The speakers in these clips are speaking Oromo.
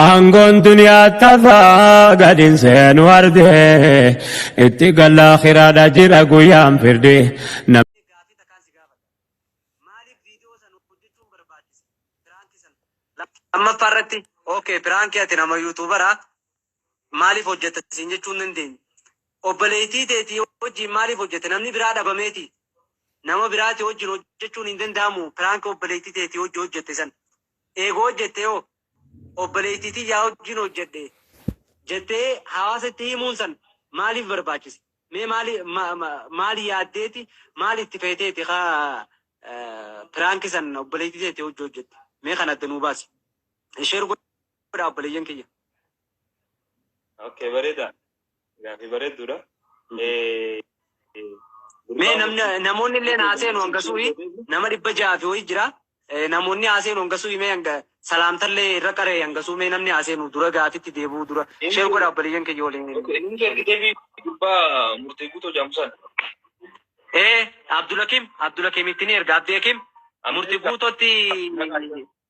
Aangoon duniyaa tafaa gadin seenu ardee itti galla akiraadha jira guyyaan firdee. Lammaffaa irratti okay piraankii ati nama yuutuubaraa maaliif hojjetta siin jechuu hin dandeenye. Obboleettii teetii wajjin maaliif hojjette namni biraa dhabameeti. Nama biraati wajjin hojjechuun hin danda'amu piraankii obboleettii teetii wajjin hojjette san. eega hojjattee hoo? Obboleettii tiyyaa wajjin hojjadhe jettee hawaasatti himuun san maaliif barbaachise? Mee maali, ma, ma, maal yaaddeeti, maal itti feeteeti ka piraanki san obboleettii teetti hojja hojjatte? Mee kan adda nuu baasi. Sheer godhaa obboleeyyan kiyya. Okay, bareeda. Gaaffii bareedduudha. Mee namni namoonni illee haaseenu hanga suuyi nama dhibba ja'a fi ho'i jira. Namoonni haaseenu hanga suuyi mee hanga salaamtallee irra qaree hanga suu mee namni haaseenu dura gaafitti deebi'uu dura sheer godha obboleeyyan kiyya waliin. Inni ergitee fi gurbaa murtee guutoo jaamsaan. Ee Abdulakim Abdulakimitti ni erga Abdi Hakim murti guutotti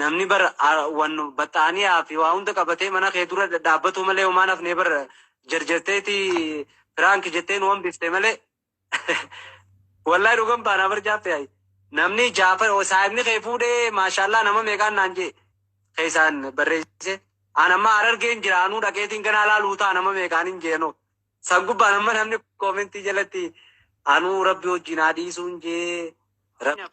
Namni bar wan baxxaaniyaa fi waa hunda qabatee mana kee dura dhadhaabbatuu malee homaa hin hafnee bar jarjarteeti prank jettee nu hambifte malee wallahi dhugan baanaa bar jaaffee ayi namni jaafa saahibni kee fuudhee maashaallaa nama meeqaan naan jee keessaan barreessee aan amma harargeen jira anuu dhaqeetiin ganaa laaluu ta'a nama meeqaan hin jeenoo san gubbaan amma namni koomentii jalatti anuu rabbi wajjin haa dhiisuun jee rabbi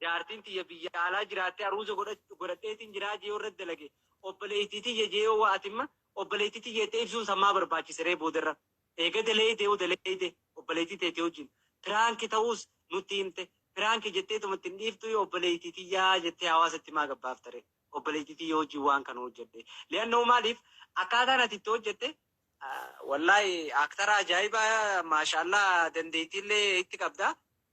Jaartiin tiyya biyya alaa jiraatte aruuza godhadheetiin jiraa jee yoo irratti dalage obboleeytii tiyya jee yoo waa atimma obboleeytii tiyya jette ibsuun san maa barbaachise ree boodarra eega daleeyde yoo daleeyde obboleeytii teeti wajjiin piraanki ta'uus nutti himte piraanki jetteetuma itti hin dhiiftuu yoo obboleeytii tiyya jettee hawaasa itti maa gabbaafta ree obboleeytii tiyya wajjiin waan kana hojjadhe li'annahu maaliif akkaataan ati itti hojjatte wallaahi aktara ajaa'ibaa maashaallah dandeeytiillee itti qabda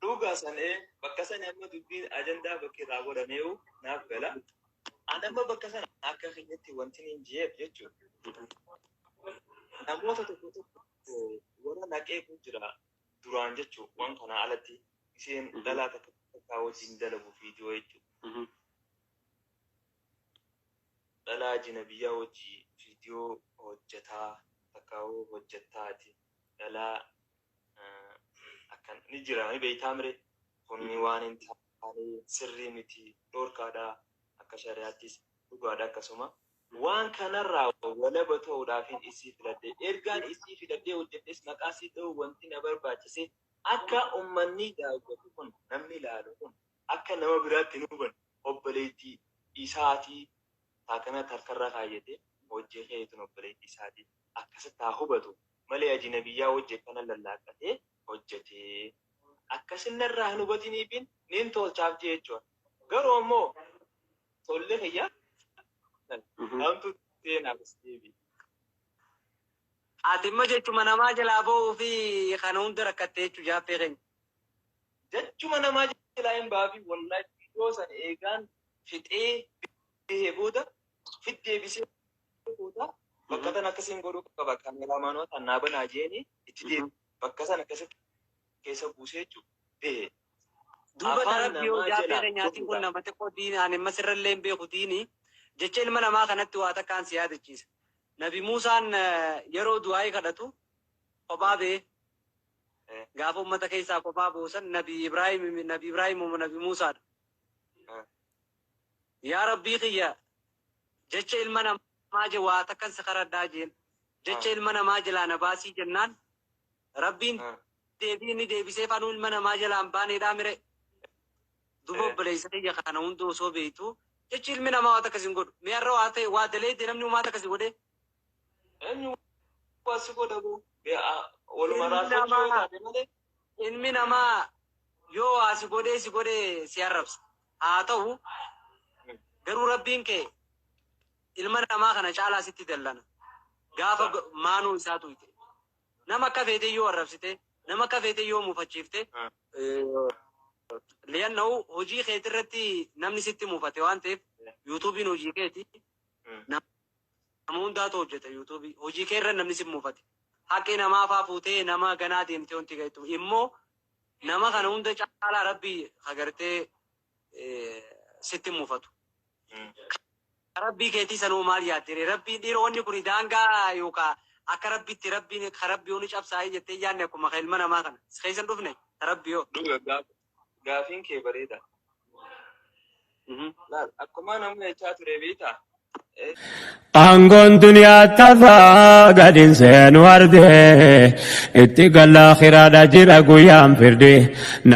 Dhuga san ee bakka sani amma dubbiin ajandaa bakki irraa godhameewu naaf gala. An amma bakka sana akka kiyyatti wantin hin jeef jechuun namoota tokko tokko warra naqeetu jira duraan jechuun waan kanaa alatti isheen dhalaa takka takkaa wajjin dalagu viidiyoo jechuun dhalaa jinabiyyaa wajjii viidiyoo hojjetaa takkaa hojjettaati dhalaa akkan ni jira ni beektaa mire kunni waan hin taane sirrii miti dhorkaadha akka shari'aattis dhugaadha akkasuma waan kanarraa walaba ta'uudhaafin isii filadhe ergaan isii filadhee hojjedhes maqaa isii dha'uu wanti na barbaachise akka ummanni daawwatu kun namni ilaalu kun akka nama biraatti hin hubanne obboleettii isaatii taakanatti harkarra kaayyate hojii keetiin obboleettii isaatii akkasitti haa hubatu malee ajinabiyyaa wajji akkana lallaaqqatee hojjatee akkasin narraa hin hubatiniifiin nin tolchaaf jee jechuudha. Garuu ammoo tolli kiyya hamtu seenaaf isteebi. Ati immoo jechuma namaa jalaa ba'uu fi kana hunda rakkattee jechuu jaaffee keenya. Jechuma namaa jalaa hin baafi wallahi viidiyoo san eegaan fixee bahee booda fit deebisee fuuta bakka tan akkasiin godhuu qaba kaameraamaanootaan naa banaa jeeni itti deebi bakka san akkasitti keessa buusee jechuu behe duuba darabbii yoo jaabbee keenyaatiin kun nama xiqqoo diini ani ammas irrallee hin beeku diini jecha ilma namaa kanatti waa takkaan si yaadachiisa nabi muusaan yeroo du'aa'ii kadhatu kophaa bee gaafa ummata keessaa kophaa boosan nabi ibraahim nabi ibraahim nabi muusaadha Yaa Rabbii kiyya! Jecha ilma namaa je waa takkan si kadhadhaa jeen. Jecha ilma namaa jelaa na baasii jennaan Rabbiin deebii inni deebiseef anuu ilma namaa jelaa hin baaneedhaa mire? Duuba obboleessa kiyya kana hunda osoo beektuu jechi ilmi namaa waa takka sin godhu. Mee har'a waa ta'e waa daleeyde namni homaa takka si godhee? Eenyu waa si godha boo? Waluma Ilmi raafachuu yoo namaa taate malee. ilmi namaa yoo waa si godhee si godhee si arrabsa. Haa ta'u garuu Rabbiin kee ilma namaa kana caalaa sitti dallana. Gaafa maanoo isaa tuyxe, nama akka feete yoo arrabsite, nama akka feete yoo mufachiifte, li'annahu hojii keeti irratti namni sitti mufate waan ta'eef, yuutuubiin hojii keeti, nama hundaatu hojjeta yuutuubii, hojii kee irra namni si mufate, haqqi namaa faa fuutee nama ganaa deemtee wanti ga'ettu immoo Nama kana hunda caalaa rabbi ka gartee sitti hin mufatu. Ka rabbii keetii san hoo maal yaadde ree? Rabbiin dhiira wanni kuni daangaa yookaa akka rabbitti rabbiin ka rabbii honi cabsaayii jettee hin yaanne akkuma ka ilma namaa kana. Si keessa hin dhufne? Ta rabbii hoo? Dhuga gaafiin kee bareeda. Laal akkuma namni jechaa ture beektaa? Aangoon duniyaa tafaa gadin seenu arde itti galla akiraadha jira guyyaan firdi.